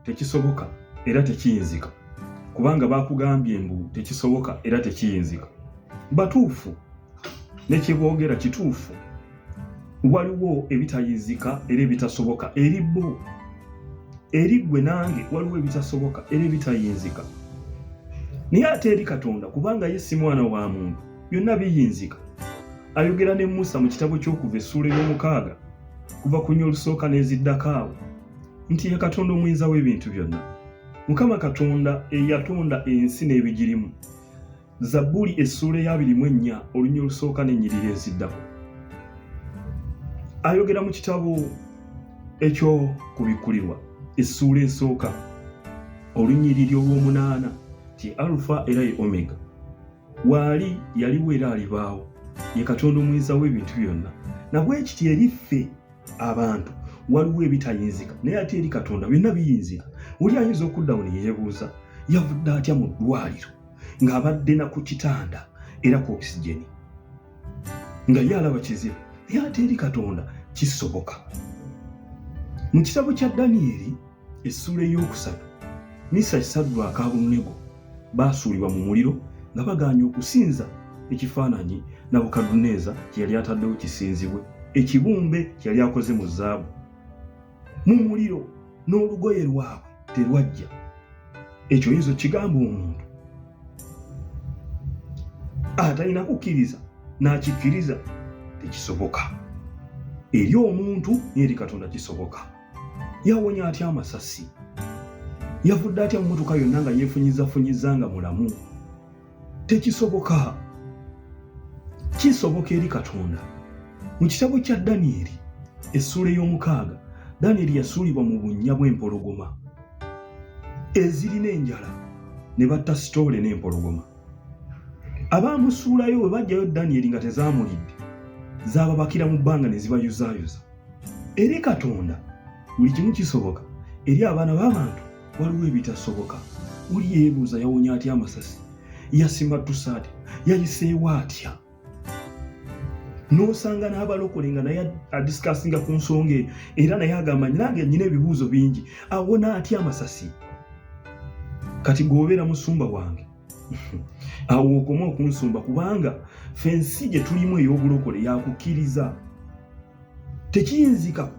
tekisoboka era tekiyinzika kubanga bakugambye mbu tekisoboka era tekiyinzika batuufu nekyebogera kituufu waliwo ebitayinzika era ebitasoboka eri bo eri gwe nange waliwo ebitasoboka era ebitayinzika naye ate eri katonda kubanga ye si mwana wa muntu byonna biyinzika ayogera ne musa mu kitabo ky'okuva essuula ey'omukaaga kuva ku nyo olusooka n'eziddako awo nti ye katonda omuyinza w'ebintu byonna mukama katonda eyatonda ensi n'ebigirimu zabbuli essuula eyabirimu ennya olunya olusooka n'ennyiriri eziddako ayogera mu kitabo ekyokubikkulirwa essuula esooka olunyiriri olw'omunaana ti alufa era ye omega waali yaliwo era alibaawo ye katonda omuyinza w'ebintu byonna nabwekiti eri ffe abantu waliwo ebitayinzika naye ate eri katonda byonna biyinzika oli ayinza okuddawo ne yeebuuza yavudde atya mu ddwaliro ng'abadde na ku kitanda era ku okisigeni nga ye alaba kizibu naye ate eri katonda kisoboka mu kitabo kya daniyeli essuula ey'okusatu misaki saddu akaabunnegu baasuulibwa mu muliro nga bagaanye okusinza ekifaananyi nabukadduneeza kye yali ataddewo kisinzibwe ekibumbe kye yali akoze mu zaabu mu muliro n'olugoye lwabwe terwajja ekyo oyinza okigamba omuntu atalina kukkiriza n'akikkiriza tekisoboka eri omuntu n'eri katonda kisoboka yawonya atya amasasi yavudde atya mu motoka yonna nga yefunyizafunyiza nga mulamu tekisoboka kisoboka eri katonda mu kitabo kya danyeri essuula ey'omukaaga danyeri yasuulibwa mu bunnya bw'empologoma ezirina enjala ne batta sitoole n'empologoma abaamusuulayo bwe bajjayo danyeri nga tezaamulidde zaababakira mu bbanga ne zibayuzaayuza eri katonda buli kimu kisoboka eri abaana b'abantu waliwo ebitasoboka oli yeebuuza yawonya atya amasasi yasimattusa atya yayiseewo atya n'osanga n'abalokole nga naye adisikasinga ku nsonga eyo era naye agamba nange nyina ebibuuzo bingi awona atya amasasi kati gweobeera musumba wange awo okoma okunsumba kubanga fensi gye tulimu ey'obulokole yakukkiriza tekiyinzika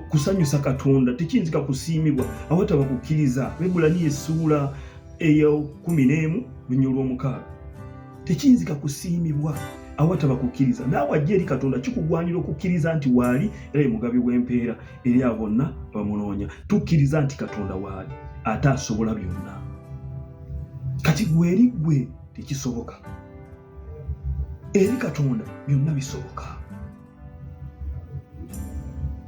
kusanyusa katonda tekiyinzika kusiimibwa awataba kukkiriza bebulani esuula eya kumi n'emu lunya olw'omukaaga tekiyinzika kusiimibwa awataba kukkiriza naawe ajja eri katonda kikugwanira okukkiriza nti waali era ye mugabi w'empeera eri a bonna bamunoonya tukkiriza nti katonda waali ate asobola byonna kati gweri gwe tekisoboka eri katonda byonna bisoboka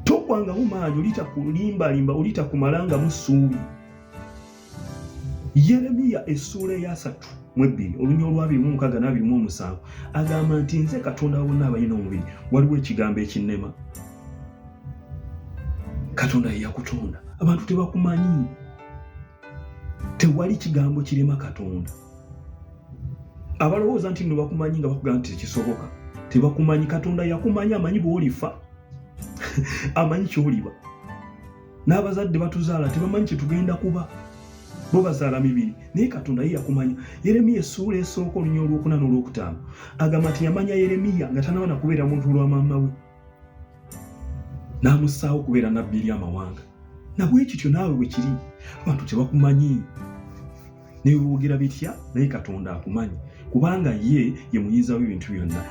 tokwangamu maanyi olitakulimbalimba olitakumalangamu ssuubi yeremiya essuula eyasatu mu ebbiri olunya olwabiri mu mukaga nabiri mu omusanvu agamba nti nze katonda wabonna abalina omubiri waliwo ekigambo ekinnema katonda yeyakutonda abantu tebakumanyi tewali kigambo kirema katonda abalowooza nti no bakumanyi nga bakugamba nti tekisoboka tebakumanyi katonda yakumanyi amanyi bwolifa amanyi kyoliba n'abazadde batuzaala tebamanyi kyetugenda kuba bo bazaala mibiri naye katonda ye yakumanya yeremiya essuula esooka olunya olwokuna n'olwokutaano agamba nti yamanya yeremiya nga tanaba nakubeera muntu lwa maama we n'amussaawo okubeera nabbi eri amawanga nabwe kityo naawe bwe kiri abantu tebakumanyi nebiboogera bitya naye katonda akumanyi kubanga ye ye muyinza w'ebintu byonna